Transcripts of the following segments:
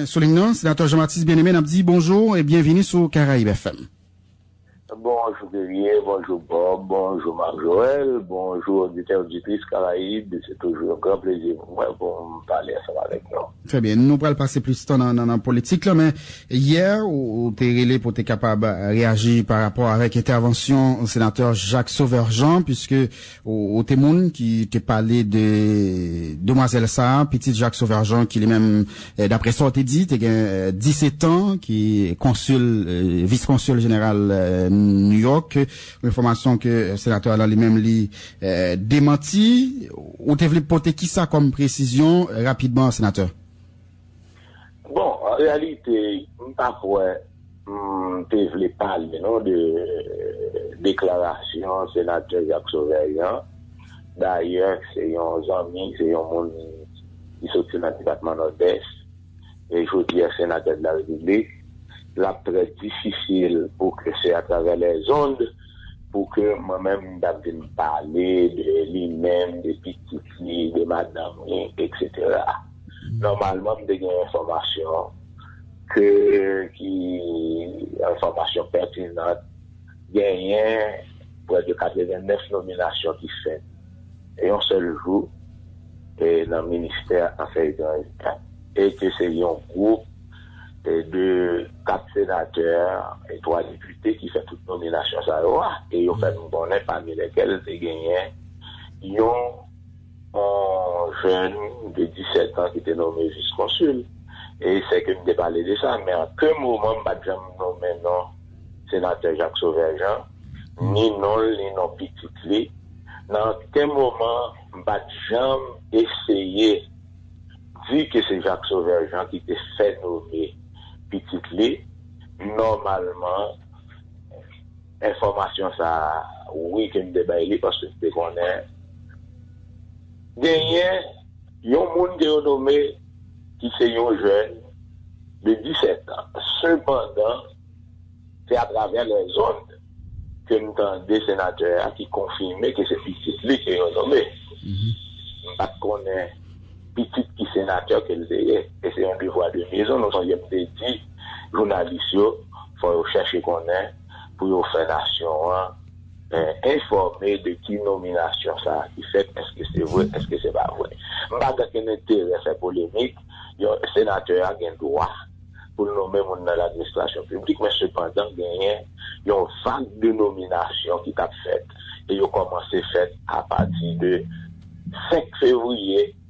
Sou ling nan, Senatè Jean Baptiste Bien-Aimé, n ap di bonjou e byenvini sou Karayib FM. Bonjou Guerrier, bonjou Bob, bonjou Marc Joël, bonjou oditè oditris Karayib, se toujou yon gran plezi pou mwen pou m pale ansanm avèk nou. Trè byen, nou pral pase plis tan nan politik la men Yè ou te rele pou te kapab reyaji pa rapò avèk entèvansyon Senatè Jacques Sauveur Jean piske ou te moun ki te pale de demwazèl sa a, pitit Jacques Sauveur Jean ki li menm daprè sa ou te di te gen 17 an ki konsil, vis konsil jeneral New York, yon enfòmasyon ke Senatè la li menm li demanti. Ou te vle pote kisa kòm presizyon rapidman Senatè? Bon, an reyalite, m pa kwè m te vle pale non de deklarasyon Senatè Jacques Sauveur an. Dayè, se yon zanmi, se yon moun ki soti nan depatman Nòdès, e jodi a Senatè de la Repiblik. L ap trè difisil pou ke se atravè lèzond pou ke mwen menm m ta vin pale de li menm, de pitit li, de madanm li, eksetera. Nòmalman m te gen enfòmasyon ke ki enfòmasyon pètinant, genyen prè de 89 nominasyon ki fèt yon sèl jou nan ministè afè etranjè e ke se yon gwoup de 4 senatè e 3 depite ki fè tout nominasyon sa yo a e yo fè nou konnen pami lèkèl te genyen yon yon jèn de 17 an ki te nome vis konsil e se ke m te pale de sa men an ken moman m pat janm nome non senatè Jacques Sauveur Jean ni non l ni non pitit li nan an ken moman m pat janm eseye di ke se Jacques Sauveur Jean ki te fè nome pitit li nòmalman. Enfòmasyon sa a wi ke m te bay li paske m te konnen genyen yon moun ke yo nome ki se yon jèn de 17 tan. Sepandan, se atravè lèzond ke m tande senatè a ki konfime ke se pitit li ke yo nome. M pa t konnen pitit ki senatè ke l te ye. E se yon devwa de mezon. Nou sonje m te di jounalis yo fò yo chèche konnen. pou yo fè nasyon an enfòme de ki nominasyon sa a ki fèt, èske se vre, èske se pa vre. M pa gen okenn enterè fè polemik, yon senatè a gen dwa pou l nome moun nan ladiministrasyon piblik, men sepandan genyen yon vag de nominasyon ki t ap fèt e yo kòmanse fèt apati de 5 fevriye.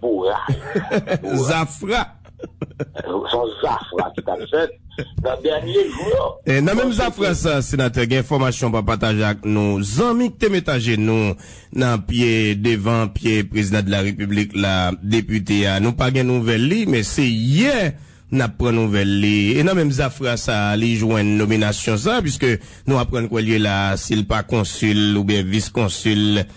Bora. Zafra. Son zafra ki tap fèt nan dènye jou yo. Nan menm zafra sa, Senatè, gen enfòmasyon pa pataje ak nou. Zanmi ki te met ajenou nan pye devan pye Prezidan de la Repiblik la, Depite a, nou pa gen nouvèl li, men se yè nap pran nouvèl li. E nan menm zafra sa li jwenn nominasyon sa, piske nou aprann kwè lye la, sil pa konsil oubyen vis konsil.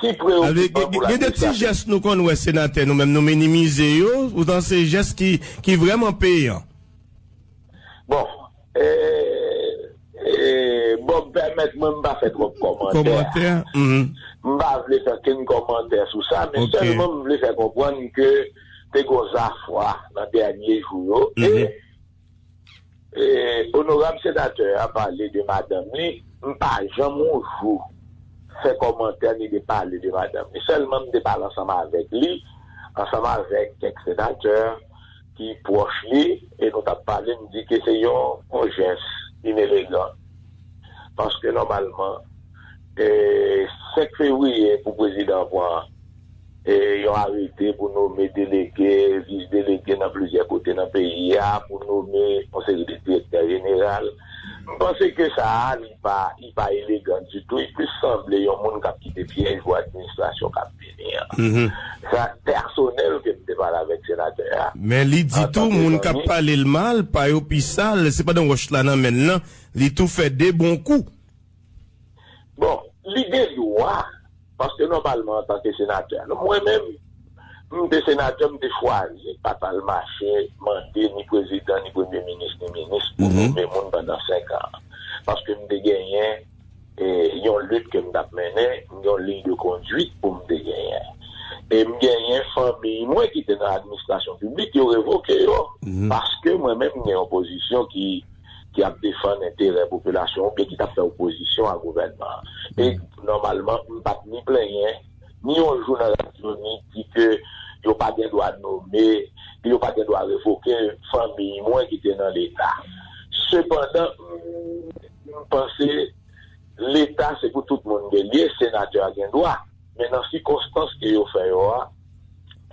Ki preyokipan pou latrice haïtienne? Gen de ti jès nou konn wè senatè nou menm nou minimize yo, poutan se jès ki vrèman peyan. Bon, Bob pèmèt mwen m pa fè twòp kòmantè, m pa vle fè okenn kòmantè sou sa, men sèlman m vle fè konprann ke te gon zafwa nan dènye jou yo e Onorab senatè a pale de madanm li, m pa janm yon jou fè kòmantè ni de pale de madanm li. Sèlman m te pale ansanm avèk li, ansanm avèk kèk senatè ki pwòch li e nou t ap pale, m di ke se yon jès inelegan paske nòmalman 5 fevriye pou prezidan pran an. Yon arete pou nome delege, vis delege nan plizyè kote nan peyi a, pou nome yon seri de direktè jeneral. M panse ke sa a li pa li pa elegan ditou, li plis sanble yon moun k ap kite pyèj pou administrasyon k ap vini an. Sa pèsonèl ke m te pale avèk senatè a. Men li di tou moun k ap pale l mal pa yo pi sal, se pa nan wòch la nan men l nan, li tou fè 2 bon kou. Bon, li gen dwa, paske nòmalman antanke senatè, mwen menm, m te senatè, m te chwazi pa t al mache mande ni prezidan, ni premye minis, ni minis pou nome moun pandan senkan an. Paske m te genyen yon lit ke m t ap mennen, yon liy de konduit pou m te genyen. E m genyen fanmi mwen ki te nan administrasyon piblik, yo revoke yo, paske mwen menm m gen yon pozisyon ki ki ap defann enterè popilasyon oubyen ki t ap fè opozisyon a gouvènman an. E nòmalman, m pa t ni plenyen, ni yon jou nan radyo, ni di ke yo pa gen dwa nome, yo pa gen dwa revoke fanmiy mwen ki te nan Leta. Sepandan, m panse Leta se pou tout moun ke l ye, senatè a gen dwa. Men nan sikonstans ke yo fè yo a,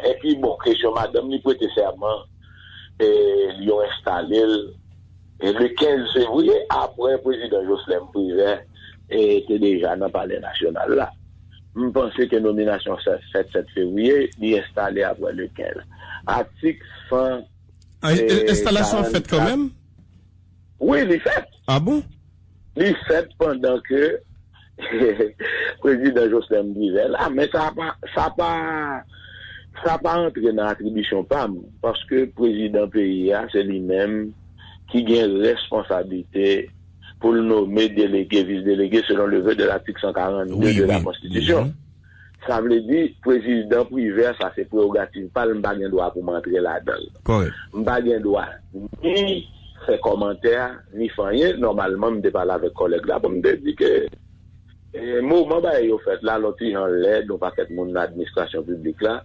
epi bon kesyon madanm li prete sèman e yo enstale l le 15 fevriye apre Prezidan Joslèm Privè te deja nan Palè Nasyonal la. M panse ke nominasyon sa fèt 7 fevriye, li enstale apre le 15. Atik 144. Enstalasyon an fèt kanmenm? Wi, li fèt. Ah bon? Li fèt pandan ke Prezidan Joslèm Divè la, men sa pa, sa pa, sa pa antre nan atribisyon pa m, paske Prezidan peyi a se li menm ki gen responsablite pou l nome delege, vis delege selon le vœu de l'article 142 de la Konstitisyon. Sa vle di, prezidan prive a, sa se prerogativ pa l, m pa gen dwa pou m antre ladan l. Kòrèk. M pa gen dwa ni fè kòmantè, ni fè anyen. Nòmalman, m te pale avèk kòlèg la pou m te di ke moman bagay yo fèt la, lòt jan lèd yon pakèt moun nan administrasyon piblik la,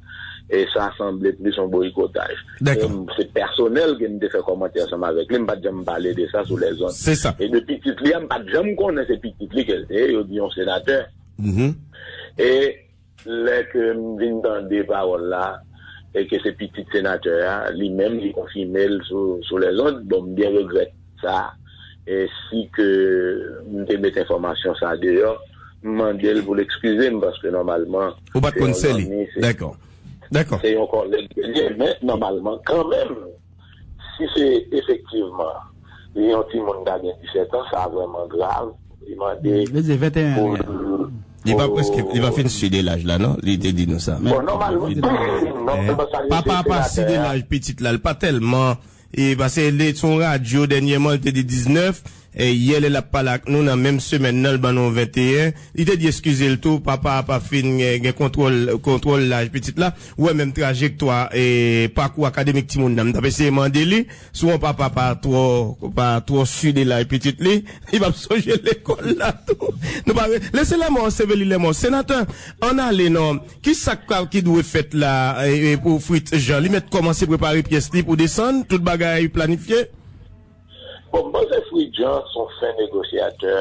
e sa sanble plis yon boyikotaj. Dèkò. E se pèsonèl ke m te fè kòmantè ansanm avèk li, m pa t janm pale de sa sou lèzond. Se sa. E de pitit li a, m pa t janm konnen se pitit li ke l te ye, yo di yon senatè. E lè ke m vin tande pawòl la, e ke se pitit senatè a, li menm li konfime l sou lèzond, bon m byen regrèt sa. E si ke m te met enfòmasyon sa deyò, m mande l pou l ekskize m, paske nòmalman se yon zanmi, se yon kòlèg ke li ye, men nòmalman kanmenm. Si se efektivman li yon timoun ta gen 17 ans sa vreman grav li mande pou l. Li pa preske li pa fin si de laj la non li te di nou sa. Bon nòmalman Papa a pa si de laj pitit la li pa tèlman e pase li son radyo dènyèman li te di 19 Yè lè lap pale ak nou nan menm semèn nan l ban nou 21, li te di eskize l tou, papa a pa fin gen kontwòl kontwòl laj pitit la, ou wè menm trajektwa e pakou akademik timoun nan. M tap eseye mande li si on papa pa twò pa twò su de laj pitit li, li pap sonje lekòl la tou. Nou pa re lese lèmò anseveli lèmò. Senatè, ann ale non, ki sak ka ki dwe fèt la e pou Fritz Jean? Li mèt kòmanse prepare pyès li pou desann, tout bagay planifye? Bon m panse Fridjan son fen negosyatè,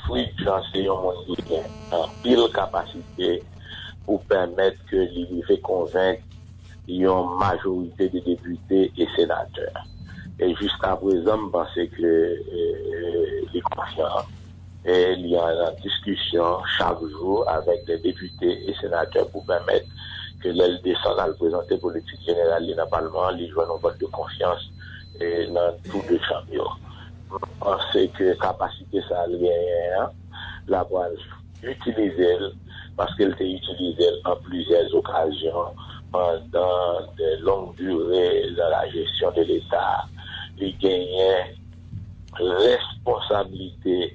Fridjan se yon moun ki gen anpil kapasite pou pèmèt ke li rive konvenk yon majorite de depite e senatè. E jiskaprezan m panse ke li konfyan e li an diskisyon chak jou avèk de depite e senatè pou pèmèt ke lè l desann al prezante politik jeneral li nan palman an li jwenn yon vòt de konfyans nan tou 2 chanm yo. Mwen panse ke kapasite sa a li genyen an, la pral itilize l, paske l te itilize l an plizyè zokazyon pandan de long dire nan la jesyon de Leta. Li genyen responsablite.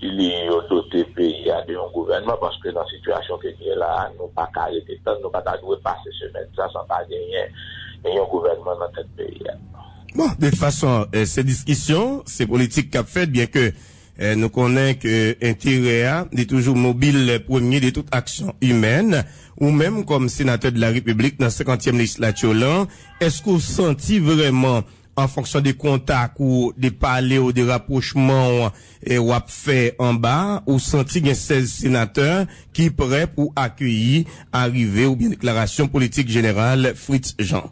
Ki liy yo dote peyi a de yon gouvènman paske nan sitiyasyon ke n ye la a, nou pa ka rete tann, nou pa ta dwe pase semèn sa san pa genyen yon gouvènman nan tèt peyi a. Bon, de tout fason, se diskisyon, se politik k ap fèt byenke nou konnen ke enterè a li toujou mobil premye de tout aksyon imèn. Ou menm kòm senatè de la Repiblik nan senkantyèm lejislati w lan, èske w santi vrèman An fonksyon de kontak ou, de pale w, de rapwochman w w ap fè anba a, ou santi gen 16 senatè ki prè pou akeyi arive oubyen deklarasyon politik jeneral Fritz Jean?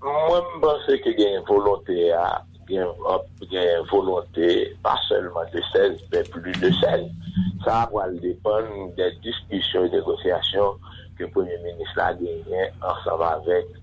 Mwen m panse ke gen volonte a, gen volonte pa sèlman de 16 men pli de 16. Sa a pral depann de diskisyon e negosyasyon ke premye minis la genyen ansanm avèk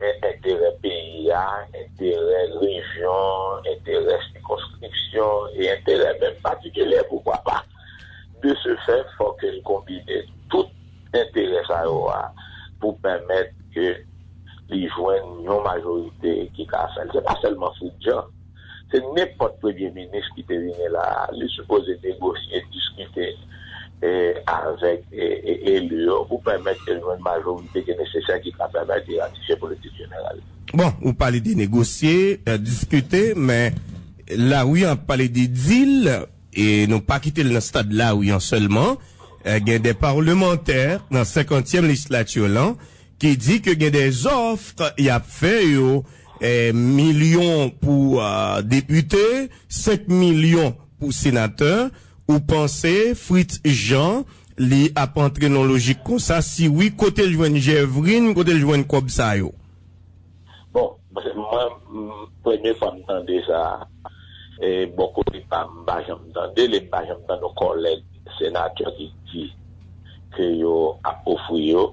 Men enterè peyi a, enterè rejyon, enterè sikonskripsyon e enterè menm patikilè poukwa pa. De se fè, fò ke n konbine tout enterè sa yo a pou pèmèt ke li jwenn yon majorite ki ka fè l. Se pa sèlman Fritjan. Se nenpòt premye minis ki te vini la a, li sipoze negosye, diskite avèk eli yo pou pèmèt yo jwenn majorite ki nesesè ki ka pèmèt li ratifye politik jeneral li. Bon, ou pale de negosye, diskite, men lari an ap pale de dil e nou pa kite l nan stad lari an sèlman. Gen de parlemantè nan senkantyèm lejislati lan ki di ke gen de zòfr yap fè yo, milyon pou depite, 5 milyon pou senatè, ou panse Fritz Jean li ap antre nan lojik konsa, si wi kotel jwenn jèvrin, kotel jwenn kòb sa yo? Bon mwen premye fwa m tande sa e bò kote pam m pa janm tande l e m pa janm tande yon kòlèg senatè ki di ke yo ap ofri yo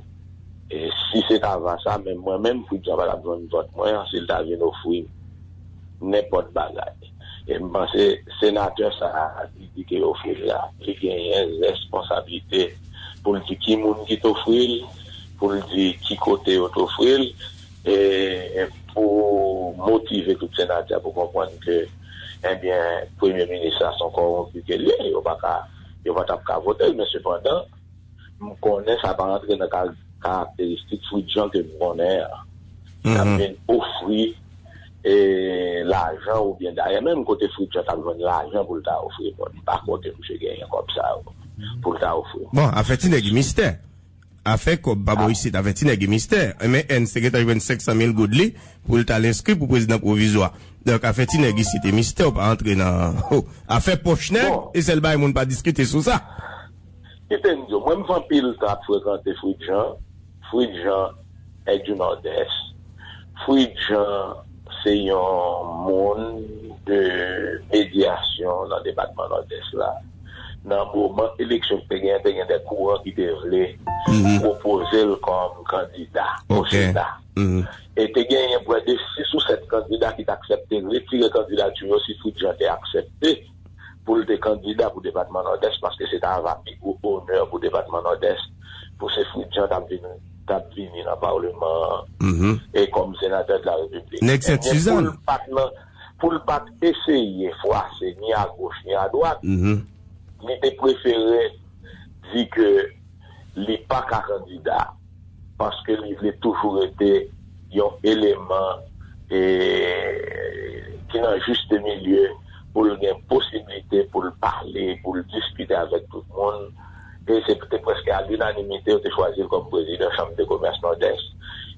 e si se ta va sa men mwen menm Fritz Jean pa tap jwenn vòt mwen si l ta vin ofri m nenpòt bagay e m panse senatè sa ki di ke yo ofri l la li genyen responsablite pou l di ki moun ki t ofri l pou l di ki kote yo t ofri l e pou motive tout senatè a pou konprann ke ebyen premye minis la s on kòwonpi ke l ye yo pa ka yo pa t ap ka vote l men sepandan m konnen sa pa rantre nan karakteristik Fritjan ke m konnen an k ap vin ofri lajan oubyen dayè menm kote Fritjan t ap jwenn lajan pou l ta ofri moun m pa kwè ke misye genyen kòb sa yo pou l ta ofri moun. Bon afè ti nèg mistè. Afè kòb pa bon isit, afè ti nèg e mistè. MN, Se gentan jwenn 500 mil goud li pou l t al enskri pou prezidan pwovizwa. Donk afè ti nèg isit e mistè ou pa antre nan ho! Afè pòch nèg Bon! e sèl bagay moun pa diskite sou sa. Kite m di w, mwen m fè anpil tan ap frekante Fritjan, Fritjan. Nèg du Nord-Est. Frid Jean se yon moun de medyasyon nan depatman Nord-Est la. Nan moman eleksyon ki te genyen, te gen de kouran ki te vle pwopoze l kòm kandida pou sena. E te genyen pwè de 6 ou 7 kandida ki t aksepte retire kandidati yo si Frid Jean te aksepte. pou l te kandida pou depatman Nòdès paske se ta va pi gwo onè pou depatman Nòdès pou se Fritz Jean t ap vin t ap vini nan pawleman an kòm senatè de la Repiblik ebyen pou l pa t nan pou l pa t eseye fwase ni a goch ni a dwat li te prefere di ke li pa ka kandida. Paske li vle toujou rete yon eleman ki nan juste milieu pou l gen posiblite pou l pale, pou l diskite avèk tout moun. E se te prèske a linanimite yo te chwazi l kòm prezidan chanm de komès Nòdès.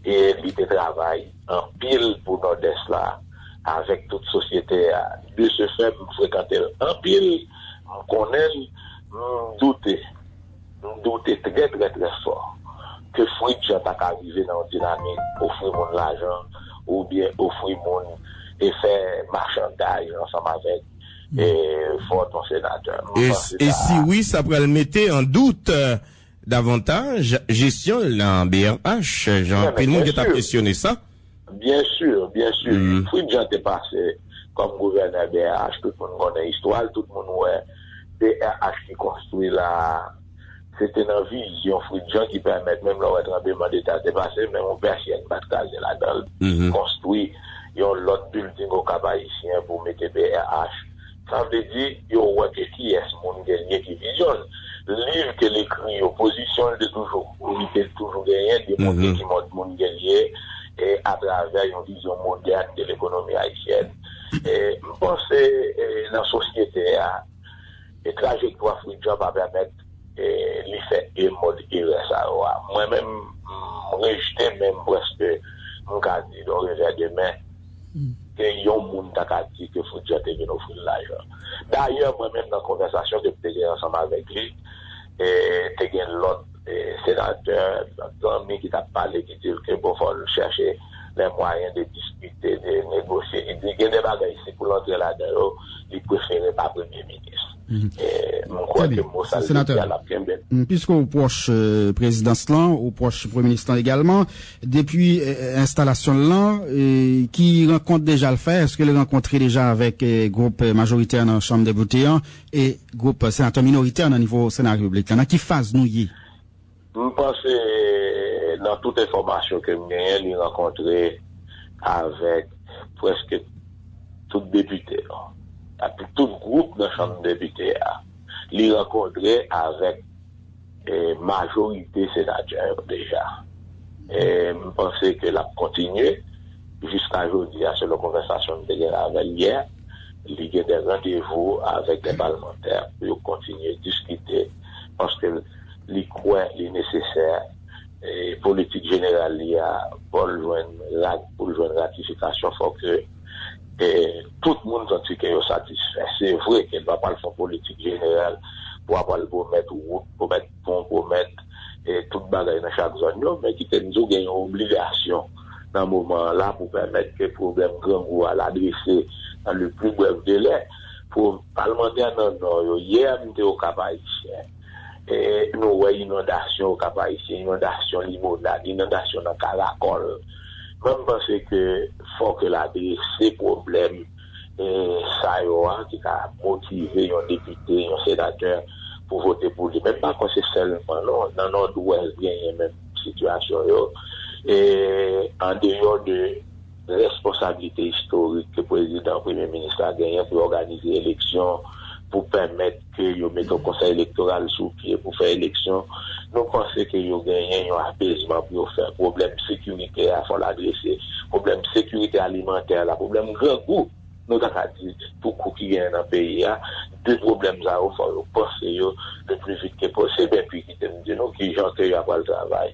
E li te travay anpil pou Nòdès la avèk tout sosyete a. De se fè, m frekante l anpil, m konnen l, m doute. M doute trè trè trè fò ke Fridjan ta ka rive nan yon dinamik ofri moun lajan oubyen ofri moun e fè machandaj ansanm avèk vòt yon senatè. M panse sa. E si wi, sa pral mete an dout davantaj jesyon l nan brh, jan anpil moun gen t ap kesyone sa. Byen sur, byen sur. Fritz Jean te pase kòm gouvènè brh, tout moun konnen istwa l, tout moun wè brh ki konstwi la a, se te nan vizyon Fritz Jean ki pèmèt, menm lè w wè tranbleman de tè a te pase, menm yon pèsyèn pa t kraze ladan l, konstwi yon lòt bilding Okap Ayisyen pou mete brh. Sa vle di, yo wè ke kiyès moun genyen ki vizyon l, liv ke l ekri yo, pozisyon l de toujou, limite l toujou genyen, demontre ki mòd moun gen l ye atravè yon vizyon modèn de lekonomi ayisyèn. M panse nan sosyete a, trajektwa Fridjan pa pèmèt li fè e mòd erè sa yo a. Mwen menm, m rejte menm prèske m ka di don revè de men, Gen yon moun ta ka di ke Frudjan te vin ofri l lajan. Dayè, mwen menm nan konvèsasyon ke m te gen ansanm avèk li, te gen lòt senatè, lòt zanmi ki t ap pale ki di l ke bon fò l chèche lè mwayen de diskite, de negosye. Li di gen de bagay si pou l antre ladan yo, li prefere pa premye minis. M kwè ke mo sa l te di a l ap kenbe l. Piske ou pwòch prezidans lan, ou pwòch premye minis lan egalman, Depi enstalasyon l lan, ki rankont deja l fè? Eske l rankontre deja avèk gwoup majoritè nan Chanm Depite an e gwoup senatè minoritè nan nivo Sena Repiblik la? Nan ki faz nou ye? M panse nan tout enfòmasyon ke m genyen, li rankontre avèk prèske tout depite yo, ak tout gwoup nan Chanm Depite a. Li rankontre avèk. majorite senatè yo deja. E m panse ke l ap kontinye. Jiska jodi a, selon konvèsasyon m te gen avè l yè, li gen de randevou avèk de palmantè pou yo kontinye diskite paske li kwè li nesesè politik jeneral li a, pou l jwenn ratifikasyon, fò ke. e tout moun santi ke yo satisfè. Se vre ke nou ap pral fè yon politik jeneral pou ap pral pwomèt wout, pwomèt pon, pwomèt tout bagay nan chak zòn yo, men kite m di w gen yon obligasyon nan moman an la pou pèmèt ke pwoblèm grangou a l adrese nan le pli brèf delè pou palmantè nan Nò yo. Yè m te o Kap Ayisyen. nou wè inondasyon okap ayisyen, inondasyon limonad, inondasyon nan karakòl. Mwen m panse ke fò ke l adrese pwoblèm sa yo a ki ka motive yon depite, yon senatè pou vote pou li. Men m pa kwè se sèlman non, nan nòdwès genyen menm sitiyasyon yo. E an deyò de responsablite istorik ke prezidan, premye minis la genyen pou yo òganize eleksyon pou pèmèt ke yo mete yon konsèy elektoral sou pye pou fè eleksyon, nou panse ke yo genyen yon apezman pou yo fè pwoblèm sekirite a, fò l adrese pwoblèm sekirite alimantè la, pwoblèm grangou, nou ta ka di tou kou, ki genyen nan peyi a. De pwoblèm sa yo fò yo panse yo le pli vit ke posib epi kite m di nou ki jan ke y a pral travay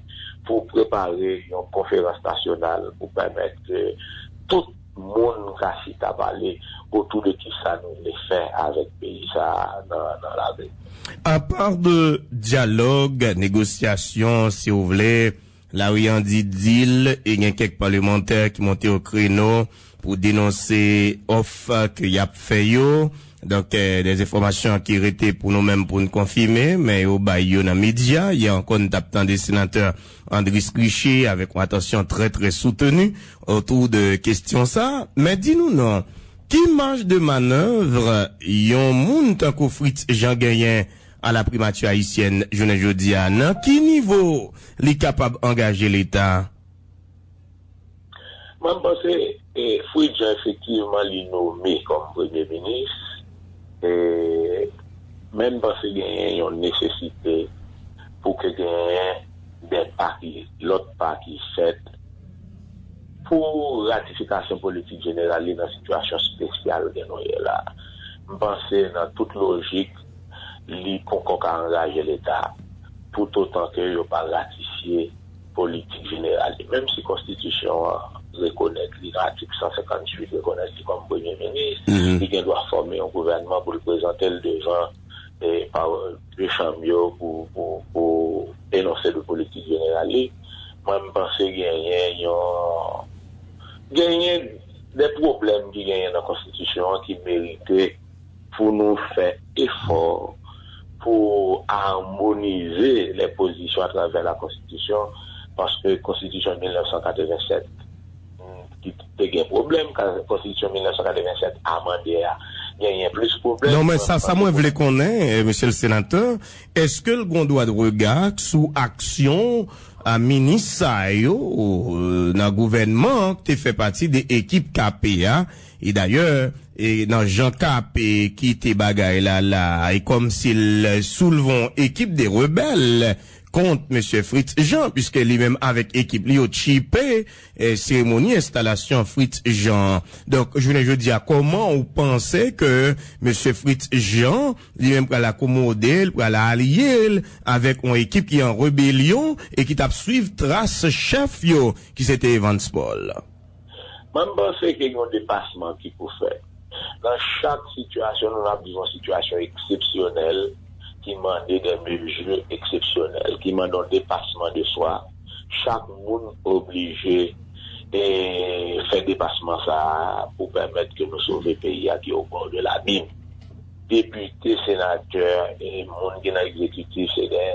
pou prepare yon konferans nasyonal pou pèmèt ke tout. moun ka chita pale otou de kisa nou vle fè avèk peyi sa a nan laveni. Apa de dyalòg, negosyasyon si w vle, lari an di dil e gen kèk palemantè ki monte o kreno pou denonse òf ke y ap fè yo. Donk de enfòmasyon ki rete pou nou menm pou n konfime men yo bay yo nan medya. Yè ankò n t ap tande senatè. Andris Riché, avèk yon atansyon trè trè soutenu otou de kestyon sa, men di nou non, ki marge de manoeuvre yon moun tankou Fritz Jean genyen a la primature haïtienne jounen jodi a? Nan ki nivo li kapab angaje leta? Mwen panse Fritz Jean efektivman li nome kòm premye minis menm panse genyen yon nesesite pou ke genyen de pa ki lòt pa ki fèt pou ratifikasyon politik jeneral li nan sitiyasyon spesyal ke nou ye la. M panse nan tout lojik li ponkò ka angaje leta tout otan ke yo pa ratifye politik jeneral li, menm si konstitisyon an rekonèt li nan atik 158 rekonèt li kòm premye minis, li gen dwa fòme yon gouvènman pou l prezante l devan de chanm yo pou enonse de politik jeneral li. Mwen m panse genyen yon genyen de pwoblèm ki genyen nan konstitisyon an ki merite. pou nou fè efò pou amonize lè pozisyon atravè la konstitisyon paske konstitisyon 1987 ki te gen pwoblèm ka konstitisyon 1987 amande a genyen plis pwoblèm. Non men sa sa mwen vle konnen mesye le senatè eske l gon dwa de rega sou aksyon a minis sa yo nan gouvènman an k te fè pati de ekip KP a E dayè, nan jan kap kite bagay la la, e kòm si l soulve on ekip de rebèl kont Mesye Fritz Jean, piske li menm avèk ekip li yo tchipe seremoni enstalasyon Fritz Jean an. Donk, jounen jodi a, kòman ou panse ke Mesye Fritz Jean, li menm pral akomode, l pral aliye l avèk on ekip ki an rebelyon e ki t ap swiv tras chèf yo, ki se te Evans Paul? Mwen panse ke gen yon depasman ki pou fèt. Nan chak sitiyasyon nou ap viv yon sitiyasyon eksepsyonèl ki mande de mezi eksepsyonèl, ki mande yon depasman de swa. Chak moun oblije e fè depasman sa a pou pèmèt ke nou sove peyi a ki o bor de labim. Depite, senatè e moun ki nan ekzekitif se de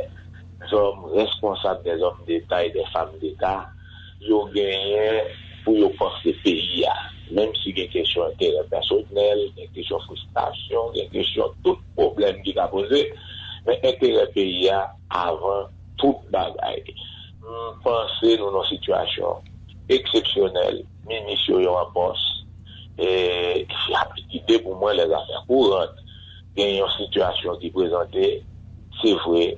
zòm responsab, de zòm deta e de fam deta. yo genyen pou yo panse peyi a, menm si gen kesyon enterè pèsonèl, gen kesyon fristasyon, gen kesyon tout pwoblèm ki ka poze, men enterè peyi a avan tout bagay. M panse nou nan sitiyasyon eksepsyonèl, minis yo yo an pòs, e se ap likide pou mwen lè zafè kourant gen yon sitiyasyon ki prezante, se vre,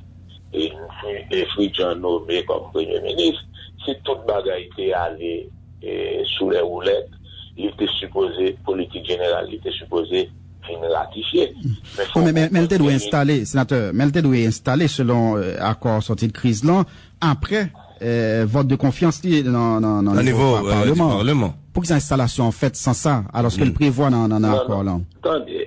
E Fritz Jean nome kòm premye minis. Si tout bagay te ale sou lè woulèt, li te sipoze, politik jeneral li te sipoze vin ratifye. Men fòk ou konprann ke li. Men l te dwe enstale, senatè, men l te dwe enstale selon akò sòti de kriz lan, apre vòt de konfyans li nan nivo pareman. Poukisa enstalasyon an fèt san sa, alòske l prevwa nan akò lan? Tande.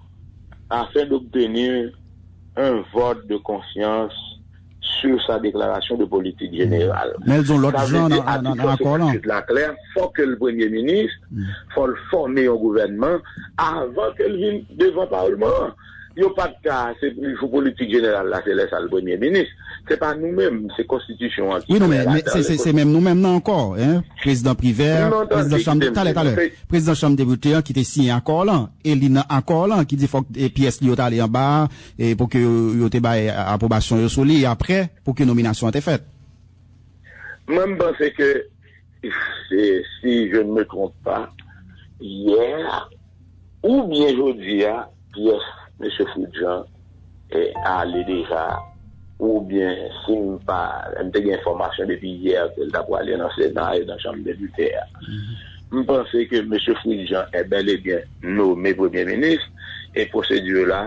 afin d'obtenir un vote de confiance sur sa déclaration de politique générale. Men l di yon lòt jan nan akò lan. Sa vle di atik 158 la klè, fò ke l premye minis, fò l fòme yon gouvènman avan ke l vin devan palman an. Yo pa t ka, se pou l jou politik jeneral la se lè sa l premye minis. Se pa nou menm, se konstitisyon an ki fè bagay la talè. Se menm nou menm nan ankò, prezidan Privert, prezidan chanm de talè talè, prezidan chanm depite an ki te siyen akò lan, e li nan akò lan ki di fòk pyès li yo tale anba pou ke yo te bay apwobasyon yo sou li apre pou ke nominasyon an te fèt. Mwen m panse ke. si je ne me trompe pas, yè ou byen jodi a, pyès Mesye Fouit Jean ale deja ou byen si m pa, m te gen enfòmasyon depi yè ke l ta prale nan Sena e nan Chanm Depite a. M panse ke Mesye Fouit Jean e bèl e byen nome Premye Minis e pwosedi la.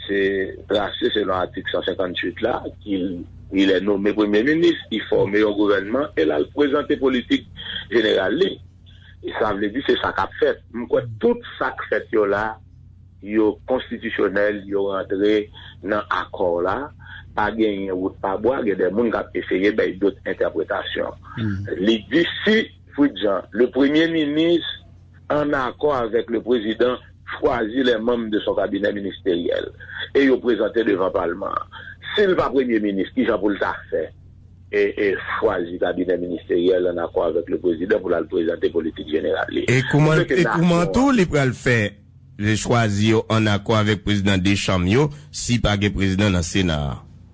Se trase selon atik 158 la ki li lè nome premye minis, li fòme yon gouvènman e l al prezante politik jeneral li. E sa vle di se sa k ap fèt. M kwè tout sa k fèt yo la yo konstitisyonèl, yo rantre nan akò la. Pa genyen wout pa bwa. Gen de moun k ap eseye bay dout entèpretasyon. Li di si Fritz Jean, le premye minis, an akò avèk le prezidan chwazi lè manm de son kabinè ministeryèl e yo prezante devan palman an. Si l pa premye minis, ki jan pou l ta fè e chwazi kabinè ministeryèl an akò avèk le prezidan pou l al prezante politik jeneral li? E kouman tou li pral fè chwazi yo an akò avèk prezidan de chanm yo si pa gen prezidan nan sena a?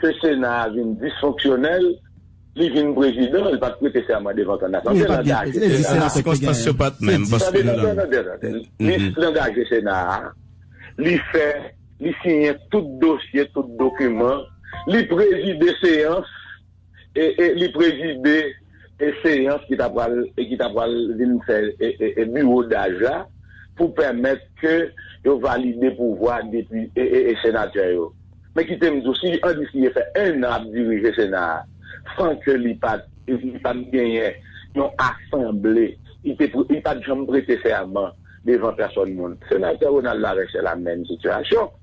ke sena a vin disfonksyonèl, li vin prezidan, li pat prete sèman devan Kanna. Sa vle di l angaje sena a. Sikonstans yo pat menm. Tande, tande, tande, tande. Li angaje sena a, li fè, li siyen tout dosye, tout dokiman, li prezide seyans. e li prezide seyans ki ta pral e ki ta pral vin fè e biwo daj la pou pèmèt ke yo valide pouvwa depi e senatè yo. Men kite m di w, si Andisiye fè 1 an ap dirije sena a san ke li pat li pat genyen yon asanble ki te li pat janm prete sèman devan pèsòn moun. Senatè Ronald Larenche la menm sitiyasyon.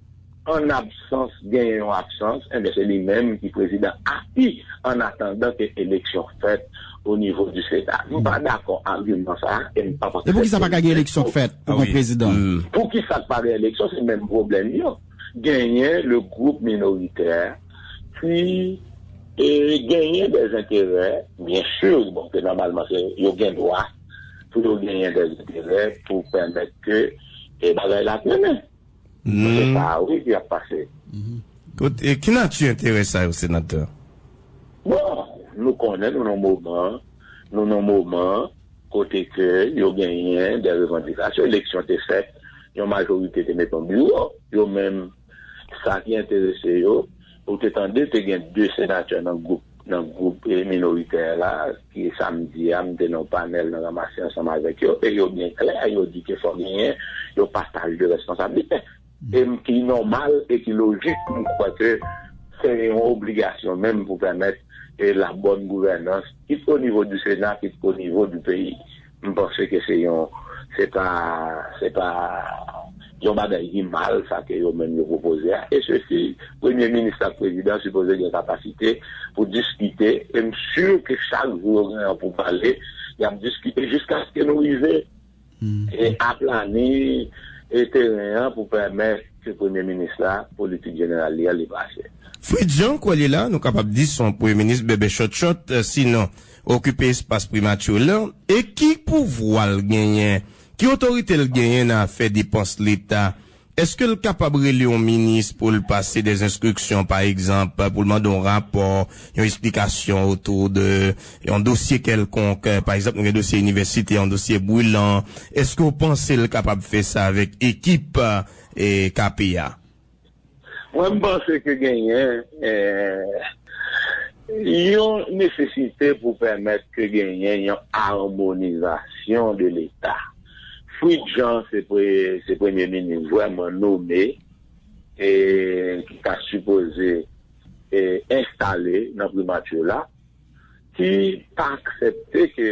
An absans genyen yon absans, enben se li menm ki prezidan api an atandan ke eleksyon fèt o nivo di seta. M pa dakò agiman sa a e m p ap aksepte l. E pou ki sa pa ka gen eleksyon k fèt pou gon prezidan? Pou ki sa k pa gen eleksyon? Se menm pwoblèm yo. Genyen le gwoup minoritè ki genyen dè enterè, byen si, bon ke nòmalman se yo gen dwa pou yo genyen dè enterè pou pèmèt ke bagay la trennen. Se sa a wi ki ap pase. Ki nati enterè sa yo senatè? Bon, nou konnen nou nan moman, nou nan moman kote ke yo genyen de revandikasyon. Eleksyon te fèt, yon majorite te met yon biwo. Yo menm, sa ki enterese yo, Ou te tande te gen 2 senatè nan gwoup nan gwoup minoritè la ki samdi a m te nan yon panèl nan Ramase ansanm avèk yo e yo byen klè yo di ke fò genyen yon pataj de responsablite e m ki nòmal e ki lojik m kwè ke se yon obligasyon menm pou pèmèt la bòn gouvènans kit onivo di sena kit onivo di peyi. M panse ke se yon, se pa, se pa yon bagay ki mal sa ke yo menm yo pwopoze a. E sesi, premye minis ak prezidan sipoze gen kapasite pou diskite e m si ke chak jou yo gen pou pale, y ap diskite jiskaske nou rive e aplani teren an pou pèmèt ke premye minis la, politik jeneral li a, li pase. Fritz Jean, kwè li la, nou kapab di son premye minis bèbè chòtchòt, sinon. Okipe espas Primature lan e ki pouvwa l genyen? Ki otorite l genyen nan afè depans leta? Eske l kapab rele yon minis pou l pase des instructions pa egzanp pou l mande yon rapò, yon esplikasyon autour de yon dosye kèlkonk, pa egzanp nou gen dosye inivèsite, yon dosye brûlant, eske w panse l kapab fè sa avèk ekip KP a? Mwen m panse ke genyen yon nesesite pou pèmèt ke genyen yon armonizasyon de leta. Fritz Jean se premye minis vrèman nome e ki ta sipoze enstale nan primati la ki pa aksepte ke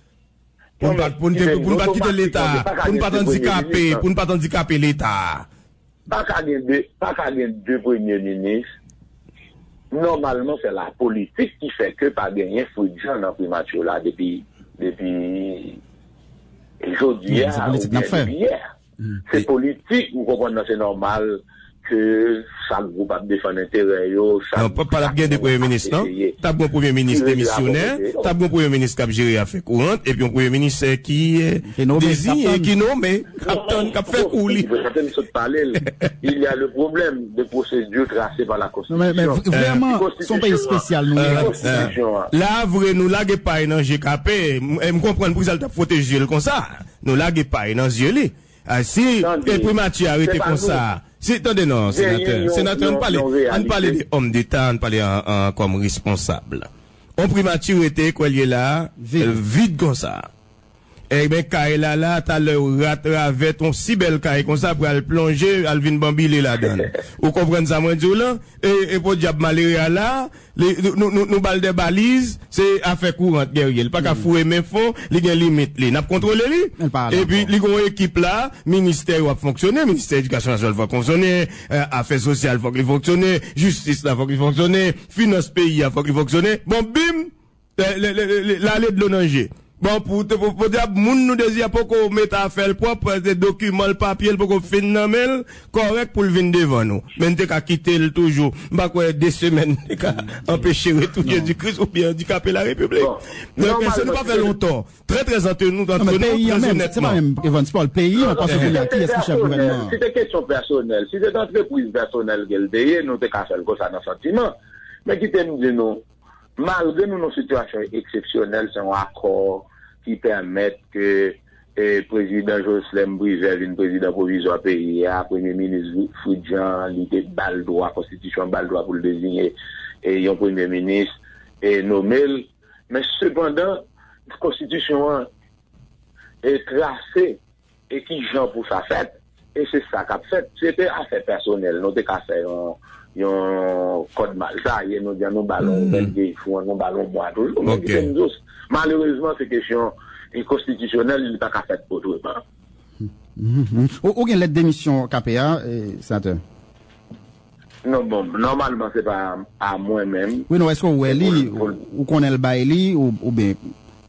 Pou n pa kite leta, pou n pa andikape, pou n pa andikape leta. Pa ka gen 2, pa ka gen 2 premye minis. Nòmalman se la politik ki fè ke pa genyen fritjan nan primati la depi depi jodi a ou byen depi yè. Se politik ou konprann nan se nòmal ke chak gwoup ap defann enterè yo, chak Nan pap patap gen 2 premye minis nan, tap gen yon premye minis demisyonè, tap gen yon premye minis kap jere afè kourant epi yon premye minis ki dezinye, ki nome, kap tann, kap fè kou li. Bon, sa se m sot pale l, il y a le problème de procédure tracée par la Constitution. Si Konstitisyon an, si Konstitisyon an. La vre nou lage pay nan je KP, m konprann poukisa l tap fwote je l konsa. Nou lage pay nan zye li. Si Primati a rete konsa, si, tande non, Senatè, Senatè, ann pale, ann pale de Homme d'Etat, ann pale kòm responsab. On Primati rete kwè l ye la, vid konsa. Enben, kay la la, talè yon rat ravèt yon si bèl kay konsa pral plonje, al vin banbile ladan l. Ou konprann sa mwen di w lan? E podyab malere a la, Nou bal de baliz se afè kourant guerrier li paka foure men fon li gen limit li nap kontrole li epi li gen yon ekip la ministè yo ap fonksyone ministè edikasyon nasyonal fòk fonksyone afè sosyal fòk li fonksyone jistis la fòk li fonksyone finans peyi a fòk li fonksyone bon bim Lale dlo nan je. Bon podyab moun nou dezi a poko met afè l pwòp, dokiman l, papye l poko fin nan men l kòrèk pou l vin devan nou. Men n te ka kite l toujou. M pa kwè de semèn te ka anpeche retou Jezikris oubyen andikape Larepiblik. Donk se nou pa fè l yon tò. Trè trè zante nou antre nou, trè zonètman. Se pa menm Evans Paul. Peyi an pase kounye a, kiyès ki chèf gouvènman an? Si te kesyon pèsonèl, si se te antrepriz pèsonèl ke l te ye, nou te ka fè l konsa nan santiman. Men kite m di nou, Malgre nou nan sitiyasyon eksepsyonèl, se yon akò ki pèmèt ke Prezidan Jocelerme Privert vin Prezidan Pwovizwa peyi a, Premye Minis Fritz Jean li te ba l dwa, Konstitisyon an ba l dwa pou l dezinye yon Premye Minis e nome l. Men sepandan, Konstitisyon an trase E ki jan pou sa fèt? E se sa k ap fèt. Se te afè pèsonèl. Nou te ka fè yon kòd mal taye, nou di annou ba l yon bèl vye fou, annou ba l yon mwa toujou. Men kite m di w, malerezman se kesyon konstitisyonèl, li pa ka fèt otreman. Ou gen lèt demisyon KP a, senatè? Non, bon, nòmalman se pa a mwen menm. Wi, non, èske ou wè li, ou konnen l bay li, oubyen?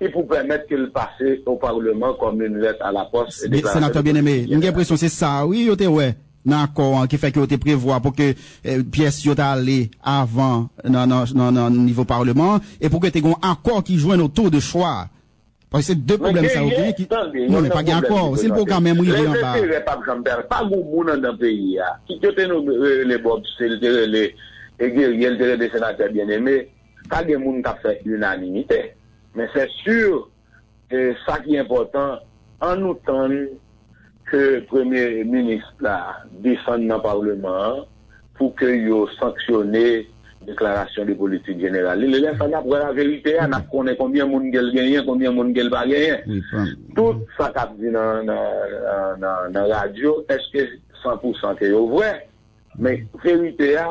ki pou pèmèt ke l pase o Parleman kòm yn lèt a la pòs, deklarasyon de politik jeneral. Senatè Bien-Aimé, m gen enpresyon se sa wi yo te wè nan akò an ki fè ke yo te prevwa pou ke pyès yo ta ale avan nan nivo Parleman an e pou ke te gen yon akò ki jwenn otou de chwa a. Paske se de pwoblèm sa yo genyen ki. Men genyen, tande, yon nan pwoblèm ki prezante. Si l poko ka menm rive anba. Lè enterè pap janm pè al. Pa gon moun anndan peyi a, kit yo te rele Bob, si l te rele Guerrier, l te rele Senatè Bien-Aimé, Ka gen moun k ap fè inanimite, men sè sur ke sa ki enpòtan an nou tann ke premye minis la desann nan parleman an pou ke yo sanksyone deklarasyon de politik jeneral li. Lè sa n ap wè laverite a, n ap konnen konbyen moun ke l genyen, konbyen moun ke l pa genyen. Tout sa k ap di nan radyo, èske san pou san ke yo vrè? Men verite a.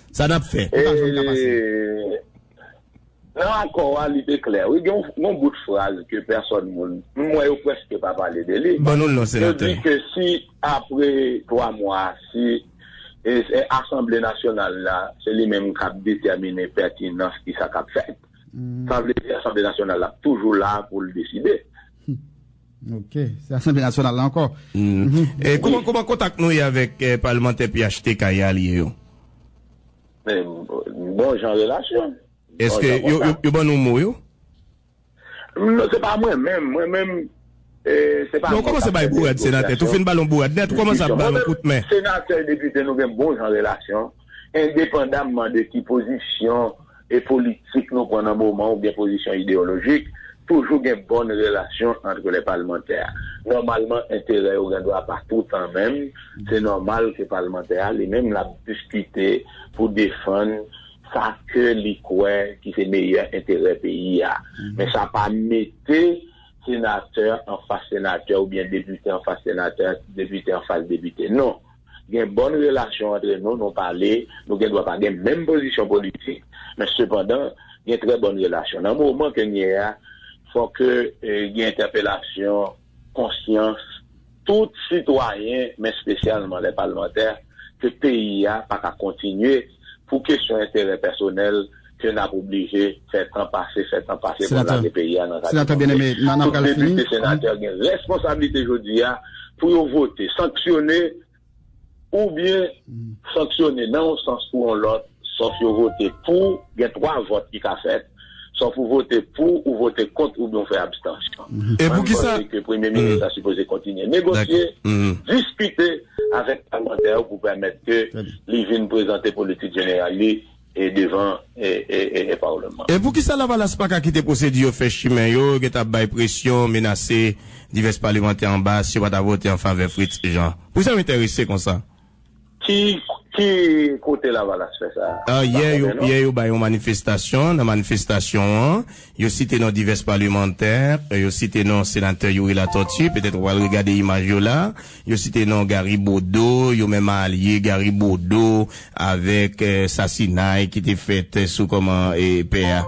Sa n ap fè? Ou ka jwenn kapasite. E. Nan akò a, li te klè. Wi, gen yon bout fraz ke pèsòn moun, m wè yo prèske pa pale de li. Ban nou l non, senatè. Yo di ke si apre twa mwa, si Asanble nasyonal la, se li menm k ap detèmine pètinans kisa k ap fèt, sa vle di Asanble nasyonal la ap toujou la pou l deside. Ok, se asanble nasyonal la ankò. E kouman kouman kontak nou ye avèk palmantè phtk y al ye yo? Men bon jan relasyon. Eske yo ban nou mo yo? Non se pa mwen menm, mwen menm se pa mwen kap fè depozisyon. Non kouman se bay bourad senatè, tou fin bal on bourad nèt ou koumanse ap bal on kout men. Senatè depite nou gen bon jan relasyon. endepandamman de ki pozisyon e politik nou pran nan moman oubyen pozisyon ideyolojik, toujou gen bòn relasyon antre lè palmantè. Nòmalman enterè yo gen dwa pa toutan menm, se nòmal ke palmantè a li menm l ap diskite pou defann sa ke li kwè ki se meyè enterè peyi a. Men sa pa mete senatè anfas senatè oubyen depite anfas senatè, depite anfas depite non. Gen bòn relasyon antre nou, nou pale, nou gen dwa pa gen menm pozisyon politik, men sepandan gen trè bòn relasyon. Nan moman kennye a, fò ke gen entèpelasyon konsyans tout sitwayen, men spesyalman lè palmantè, ke peyi a pa ka kontinye. pou kesyon enterè pèsonèl ke n ap oblije fè tan pase, fè tan pase pou n lage peyi a nan katimange. Tout depite, senatè gen responsablite jodi a pou yo vote, sanksyone oubyen sanksyone nan yon sans ou yon lòt, sòf yo vote pou, gen 3 vòt ki ka fèt. Sòf ou vote pou, ou vote kont oubyen ou fè abstansyon. Mwen panse ke Premye Minis la sipoze kontinye negosye, diskite avèk palmantè yo pou pèmèt ke li vin prezante politik jeneral li devan palman an. E poukisa Lavalas pa ka kite pwosedi yo fè chimen yo? Yo gentan ap bay presyon, menase divès palemantè anba si yo pa ta vote an favè Fritz Jean. Poukisa yo enterese konsa? Ki ki kote lavalas fè sa? Yè yo yè yo bay yon manifestasyon, nan manifestasyon an yo site non divès palemantè, yo site non senatè Youri Latortue, petèt ou pral regade imaj yo la, yo site non Gary Bodeau, yo menm alye Gary Bodeau avèk sasinay ki te fèt sou kòman pè a,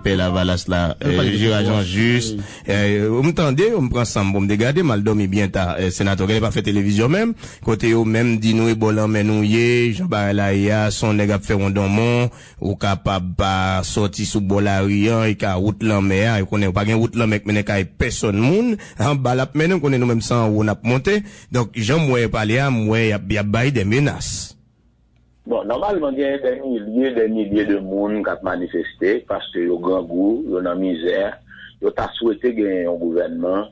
pè lavalas la Gérard Jean Juste. Yo m tande, yo m pran san m pou m te gade, m al dòmi byen ta. Senatè w genlè pa fè televizyon menm, kote yo menm di nou e bò lanmè nou ye, jan bagay la ye a, si w nèg ap fè wondonmon, ou kapab pa sòti sou bò lari an e ka wout lanmè a, yo konnen pa gen wout lanmè k mennen kay pèsòn moun, anba l ap mennen, konnen nou menm se anwo n ap monte. Donk jan m wè yo pale a, m wè y ap bay de menas. Bon, nòmalman gen dè milye, dè milye de moun k ap manifeste paske yo grangou, yo nan mizè, yo ta swete genyen yon gouvènman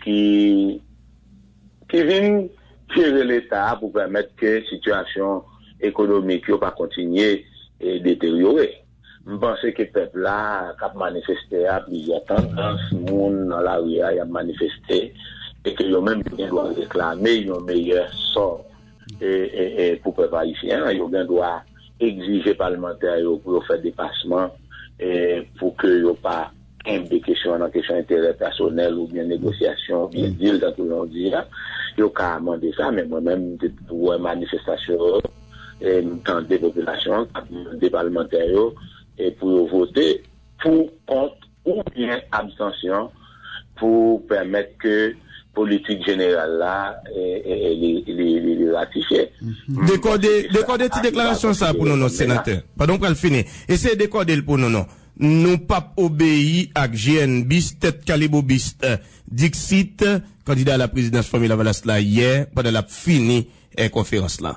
ki ki vin jere leta a pou pèmèt ke sitiyasyon ekonomik yo pa kontinye deteryore. M panse ke pèp la kap manifeste a plizyè tandans moun nan lari a yap manifeste e ke yo menm yo gen dwa reklame yon meyè sò pou pèp ayisyen an, yo gen dwa egzije palmantè yo pou yo fè depasman pou ke yo pa. kenbe kesyon an nan kesyon enterè pèsonèl oubyen negosyasyon oubyen dil tankou jan w di a, yo ka mande sa men mwen menm m te wè manifestasyon yo e m tande popilasyon an k ap mande palmantè yo pou yo vote pou kont oubyen abstansyon pou pèmèt ke politik jeneral la li ratifye. Dekòde ti deklarasyon sa pou nou non senatè, pandan w pral fini eseye dekòde l pou nou non. Nou pap obeyi ak GNBis tèt kale bobis, dixit kandida a la prezidans Fanmi Lavalas la yè pandan l ap fini konferans la,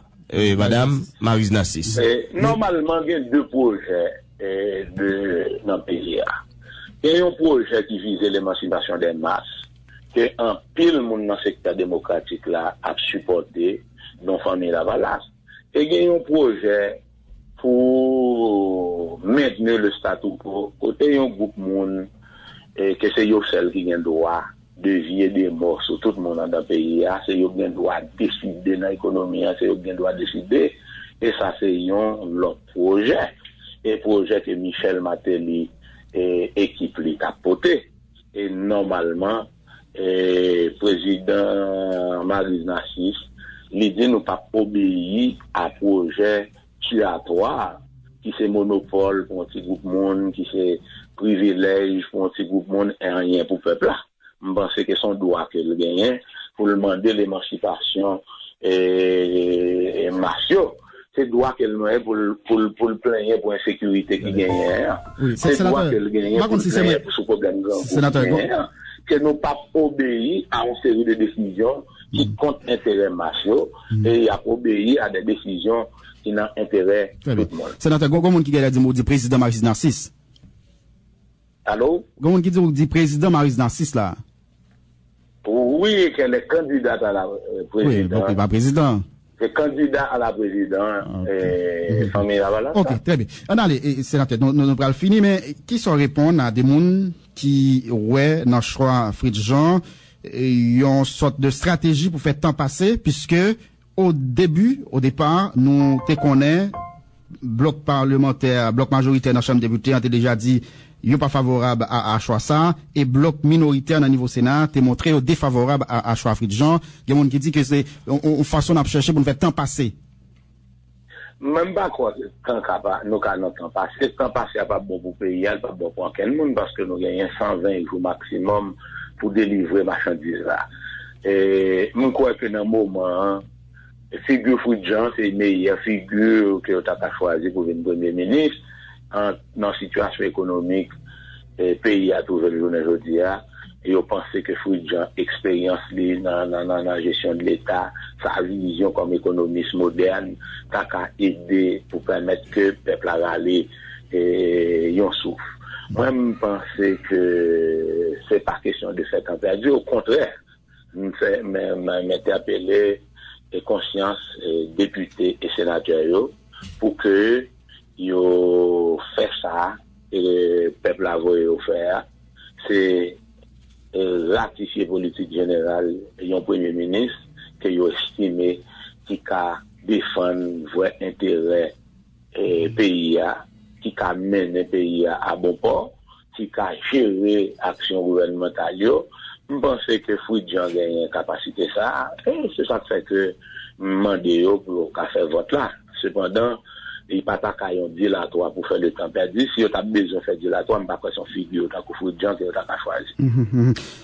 Madam Maryse Narcisse. Nòmalman gen 2 pwojè nan peyi a. Gen yon pwojè ki vize lemansipasyon dè mas ke anpil moun nan sektè demokratik la ap sipòte don Fanmi Lavalas e gen yon pwojè Pou mentni le statu quo, kote yon gwoup moun ke se yo sèl ki gen dwa de vi e de mò sou tout moun andan peyi a, se yo ki gen dwa deside nan ekonomi an, se yo ki gen dwa deside, e sa se yon lòt pwojè, e pwojè ke Michel Martelly e ekip li t ap pote, e nòmalman. Prezidan Maryse Narcisse, li di nou pap obeyi a pwojè tuatwa ki se monopòl pou yon ti gwoup moun, ki se privilèj pou yon ti gwoup moun e anyen pou pèp la. M panse ke se yon dwa ke l genyen pou l mande lemansipasyon mas yo. Se dwa ke l mwen pou l plenyen pou ensekirite ki genyen an. Se dwa ke l genyen pou l plenyen sou pwoblèm grangou ki genyen an. Ke nou pap obeyi a yon seri de desizyon ki kont enterè mas yo e y ap obeyi a de desizyon ki nan enterè tout moun. Senatè, gon moun ki genlè di m ou di Prezidan Maryse Narcisse. Allo? Gen moun ki di ou k di prezidan Maryse Narcisse la. Wi e kè lè kandidate a la prezidan. Wi, e pa prezidan. Se kandida a la prezidan fanmi lavalas la. Ok, trè byen. An n ale, senatè, nou pral fini men ki sa w reponn a de moun ki wè nan chwa Fritz Jean yon sòt de strateji pou fè tan pase piske O debi, o depa, nou te konnen blòk palemantè, blòk majoritè nan Chanm Depite an te deja di yo pa favorab a a chwa sa a, e blòk minoritè nan nivo Sena a te montre yo defavorab a a chwa Fritz Jean. Gen moun ki di ke se yon fason n ap chèche pou n fè tan pase. Mwen m pa kwè tan ka pa, nou ka nan tan pase. Tan pase a pap bon pou peyi a, li pap bon pou ankenn moun paske nou genyen 120 jou maksimòm pou delivre machandiz la. M kwè ke nan moman an, figi Fritjan se meyè figi ke yo ta ka chwazi pou vin premye minis. ant nan sitiyasyon ekonomik peyi a twouve l jounen jodi a, yo panse ke Fritz Jean, eksperyans li nan jesyon de leta, sa vizyon kòm ekonomis modèn ta ka ede pou pèmèt ke pèp la rale yon souf. Mwen m panse ke se pa kesyon de fè tan pèdi, okontrè. M entèpele konsyans depite e senatè yo pou ke yo fè sa pèp la voye yo fè a, se ratifye politik jeneral yon premye minis ke yo estime ki ka defann vrè enterè peyi a, ki ka mennen peyi a a bon pò, ki ka jere aksyon gouvènmantal yo, m panse ke Fridjan genyen kapasite sa a, e se sa k fè ke m mande yo pou yo ka fè vòt la. Sepandan, li pa ta ka yon dilatwa pou fè le tan pèdi. Si yo ta bezwen fè dilatwa, m pa kwè se yon figi tankou Fridjan ke yo ta ka chwazi.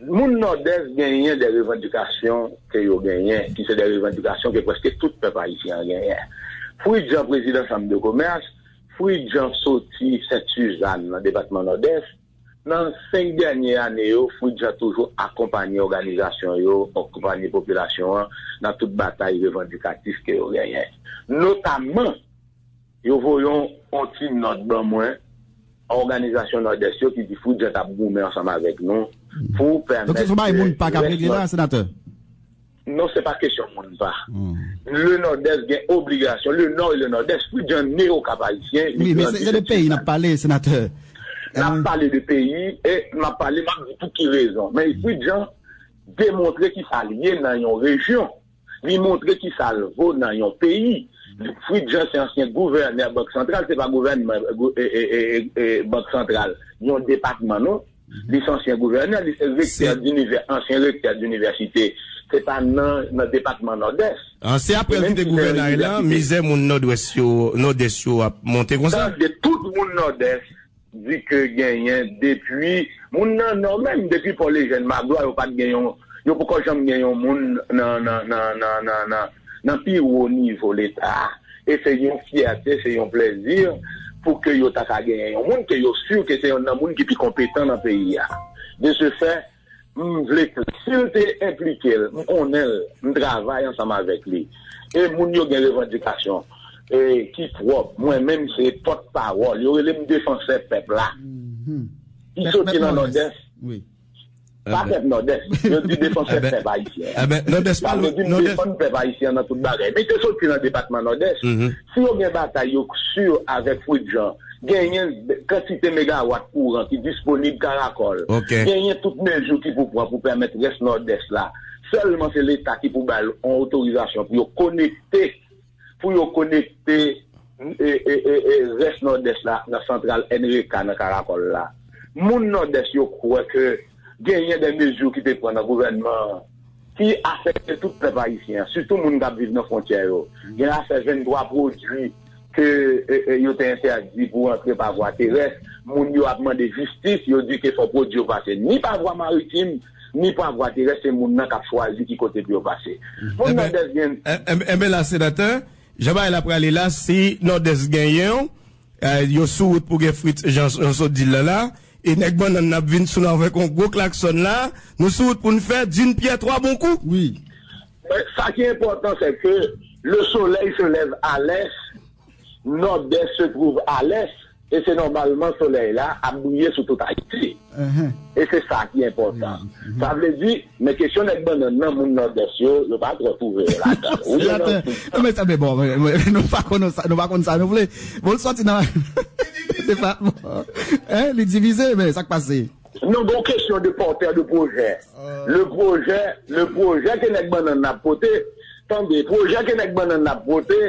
Moun Nòdès genyen de revandikasyon ke yo genyen, ki se de revandikasyon ke preske tout pèp ayisyen an genyen. Fridjan, prezidan chanm de komès, Fridjan soti Sent Suzann nan depatman Nòdès. Nan 5 dènye ane yo, Fridjan toujou akonpanye òganizasyon yo, akonpanye popilasyon an nan tout batay revandikatif ke yo genyen. Notaman. Yo voye yon ti nòt ban mwen, òganizasyon Nòdès yo ki di Fout Jan t ap goumen ansanm avèk nou pou pèmèt ke rès Nòdès. Non se pa kesyon moun pa. Le Nòdès gen obligasyon, le Nò e le Nòdès, Fout Jan ne o Kap Ayisyen, li grandi sou ti sa. N ap pale de peyi e m ap pale, m ap di pou ki rezon. Men Fout Jan demontre ki sa l ye nan yon rejyon. Li montre ki sa l vo nan yon peyi. Fritz Janssen, ansyen gouvènè Bank Santral, se pa gouvènman Bank Santral, yon depatman non. Li se ansyen gouvènè, li se rektè dinivè, ansyen rektè dinivèsite, se pa nan nan depatman Nòdès. Ah, se apre l kite gouvènay la, mizè moun Nòdwès yo, Nòdès yo ap monte konsa? Tande, tout moun Nòdès. di ke genyen depi moun nan nò menm depi pò lejèn magloire yo pat gen yon yo poko janm gen yon moun nan nan nan nan nan nan nan pi wo nivo leta e se yon fyète se yon plèzi pou ke yo ta ka genyen yon moun ke yo sur ke se yonn nan moun ki pi konpetan nan peyi a de se fè M vle k si l te enplike l m konnen l m travay ansanm avèk li e moun yo gen revandikasyon e ki pwòp mwen menm se pòt pawòl yo rele m defansè pèp la ki soti nan nòdès pa pèp nòdès yo di defansè pèp ayisyen sa vle di m defann pèp ayisyen nan tout bagay mi te soti nan depatman nòdès. Si yo gen batay yo k sur avèk Frid Jean, genyen kantite megawatt kouran ki disponib Karakòl, genyen tout mezi ki pou pran pou pèmèt rès Nòdès la. Sèlman se Leta ki pou bay on otorizasyon pou yo konekte, pou yo konekte rès Nòdès la nan santral NRECA nan Karakòl la. Moun Nòdès yo kwè ke genyen de mezi ki te pran nan gouvènman an, ki afekte tout pèp ayisyen an, sitou moun k ap viv nan fwontyè yo. Gen afè 23 pwodui ke yo te entèdi pou antre pa vwa terès. Moun yo ap mande jistis, yo di ke fò pwodui yo pase ni pa vwa maritim, ni pa vwa terès, se moun nan k ap chwazi ki kote pou yo pase. Moun Nòdès gen. Enben la Senatè, jan bagay la prale la, si Nòdès genyen, yo sou wout pou gen Fritz jan sot di l lan la. E nèg bannann nan ap vin sou nou avèk yon gwo klaksòn la, nou sou wout pou n fè d'une pierre trois bon kou! Wi. Men, sa ki enpòtan sè ke le soleil se lève à l'est, nord-est se trouve à l'est, e se nòmalman solèy la ap briye sou tout Ayiti. E se sa ki enpòtan. Sa vle di. Men kesyon nèg bannann nan moun nòdès yo, yo pa twò twouve yo ladan. Ou ye nan tout sa. Mwen sanble bon nou pa konn nou pa konn sa nou vle. Bon l sòti nan depatman hein li divize men sak pase. Non gen yon kesyon de porteur de projet. Le projet le projet ke nèg bannann nan ap pote tande projet ke nèg bannann nan ap pote.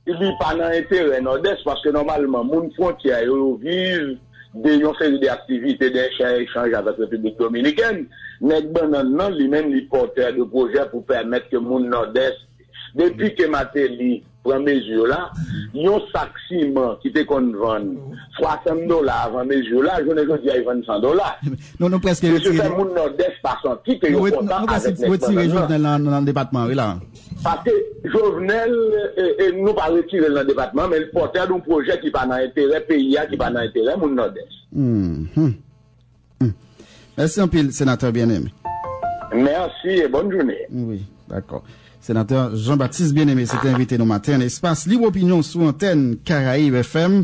Li pa nan enterè Nòdès paske nòmalman moun fwontyè a yo, yo viv de yon seri de aktivite de echanj echanj avèk Repiblik Dominikèn. Nèg bannann nan li menm li pòtè de pwojè pou pèmèt ke moun Nòdès, depi ke Mateli pran mezi yo la, yon sak siman ki te konn vann 60 dola avan mezi yo la, jounen jodi a li vann 100 dola. Se se fè moun Nòdès pa santi ke yo kontan avèk nèg bannann nan. Paske Jovenel nou pa retirel nan depatman men li pòtè don pwojè ki pa nan enterè peyi a ki pa nan enterè moun nòdès. Humm humm mèsi anpil senatè byen eme. Mèsi e bòn joune. Wi dakò. Senatè Jean Baptiste Bien-Aimé se te envite nou maten nan espas Lib Opinyon sou antèn Karayib FM.